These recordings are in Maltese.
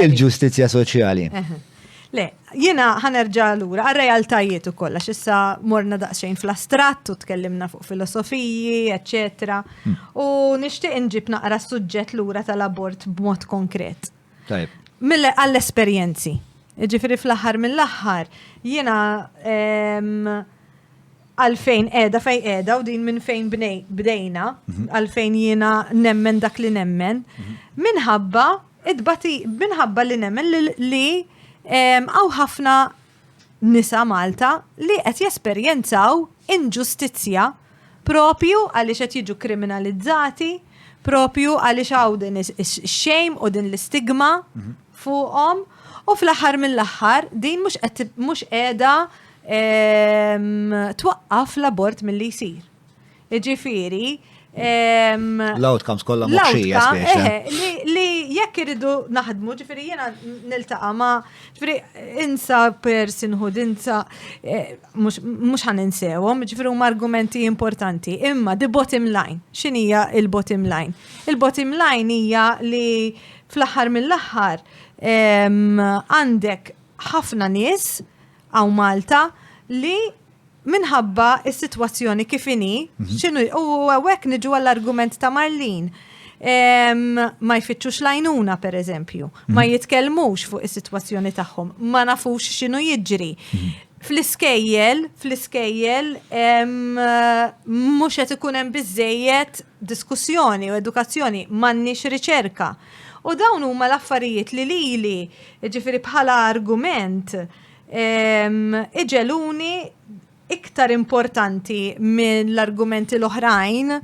Il-ġustizzja soċjali. Le, jiena ħanerġa lura għal-realtajiet ukoll għax issa morna daqsxejn fl-astratt u tkellimna fuq filosofiji, eċetera. Hmm. U nixtieq inġib naqra s-suġġett lura tal-abort b'mod konkret. Tajb. Mille għall-esperjenzi. Ġifiri fl-aħħar mill-aħħar jiena għalfejn edha fej edha u din minn fejn bdejna, mhm. għalfejn jiena nemmen dak li nemmen, mhm. minħabba It-tbati minħabba li nemmen li għaw ħafna nisa Malta li qed jesperjenzaw inġustizzja propju għaliex qed jiġu kriminalizzati, propju għaliex għaw din ix-xejm u din l-istigma mhm. fuqhom u fl-aħħar mill-aħħar din mhux qiegħda twaqqaf l-abort milli jsir. Ġifiri, L-outcomes kollha moħxija Li jekk iridu naħdmu, ġifieri jiena niltaqa' ma' ġifieri insa personhood, insa eh, mhux ħan insewhom, ġifieri huma argumenti importanti. Imma the bottom line, x'inhija il-bottom line? Il-bottom line hija li fl-aħħar mill-aħħar għandek ħafna nies Hawn Malta li minħabba is-sitwazzjoni kif inhi, mhm. x'inhu u hawnhekk niġu għall-argument ta' Marlin. Ma jfittxux lajnuna per eżempju, mhm. ma jitkellmux fuq is-sitwazzjoni tagħhom, ma nafux x'inhu jiġri. Mhm. Fl-iskejjel, fl-iskejjel, mhux qed ikun hemm biżejjed diskussjoni u edukazzjoni, m'għandniex riċerka. U dawn huma l-affarijiet li lili, jiġifieri bħala argument, iġegħluni iktar importanti mill-argumenti l-oħrajn,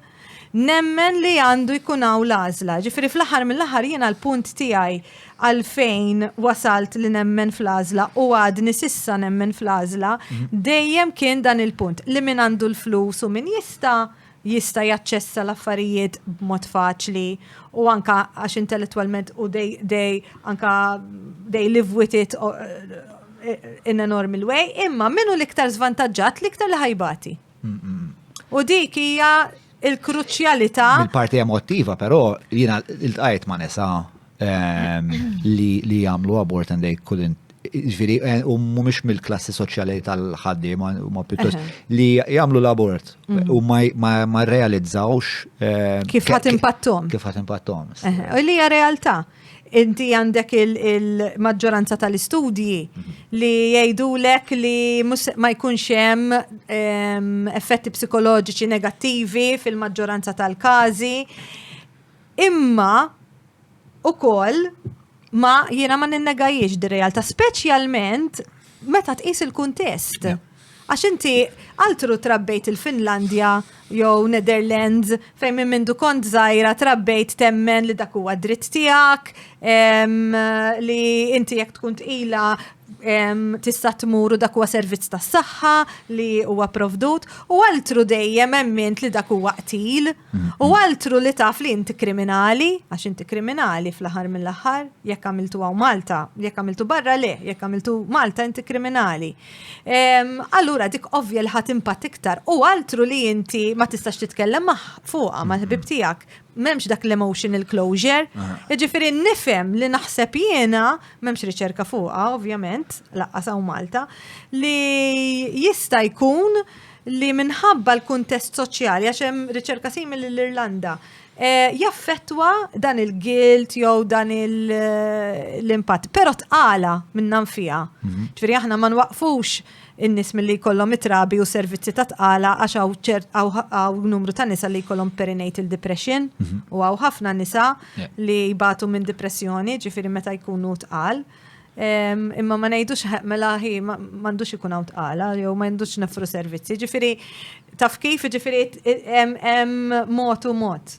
nemmen li għandu jkun hawn l-għażla. Jiġifieri fl-aħħar mill-aħħar jiena l-punt tiegħi għalfejn wasalt li nemmen fl-għażla u għadni s'issa nemmen fl-għażla, dejjem kien dan il-punt, li min għandu l-flus u min jista' jista' jaċċessa l-affarijiet b'mod faċli u anka għax intellettwalment u dej dej anka dej live with it in a normal way, imma minnu l-iktar zvantaġġat l-iktar li ħajbati. U dik hija il-kruċjalità. Il-parti emotiva, però jiena il-tqajt ma' nisa Ehm, li jagħmlu abort and they couldn't ġviri, eh, u mumiex mill-klassi soċjali tal-ħaddi, ma pjuttost, li jamlu l-abort mhm. u ma realizzawx. Eh, kif ħat impattom? Kif ħat impattom. U li hija realtà. Inti għandek il-maġġoranza tal-istudji mhm. li jgħidu lek li ma jkunx hemm ehm, effetti psikoloġiċi negattivi fil-maġġoranza tal-każi. Imma ukoll ma jiena ma ninnegajiex di realtà speċjalment meta tqis il-kuntest. Għax inti altru trabbejt il-Finlandja jew Netherlands fejn minn mindu kont żgħira trabbejt temmen li dak huwa dritt tiegħek li inti jekk tkun tqila tista' tmur u dak huwa servizz tas-saħħa li huwa provdut u altru dejjem emmint li dak huwa qtil. U altru li taf li inti kriminali, għax inti kriminali fl-aħħar mill-aħħar, jekk għamiltu għaw Malta, jekk għamiltu barra le, jekk għamiltu Malta inti kriminali. Allura dik ovvja li ħat impatt iktar u altru li inti ma tistax titkellem maħ fuqa ma ħbib tiegħek memx dak l-emotional closure. Ġifiri nifem li naħseb jiena, memx riċerka fuqa, ovvjament, laqqas Malta, li jista jkun li minħabba l-kuntest soċjali, għax hemm riċerka simili l-Irlanda, eh, jaffettwa dan il-guilt jew dan eh, l-impatt. Però tqala minnan fija. Mhm. Ġifieri aħna ma nwaqfux in-nies milli jkollhom itrabi u servizzi ta' tqala għax hawn ċert hawn numru ta' nisa li jkollhom perinatal depression mhm. u hawn ħafna nisa li jbatu minn depressjoni, ġifieri meta jkunu tqal. Imma ma ngħidux mela ħi m'għandux ikun hawn tqala jew ma għandux nefru servizzi. Ġifieri taf kif ġifieri hemm mod u mod.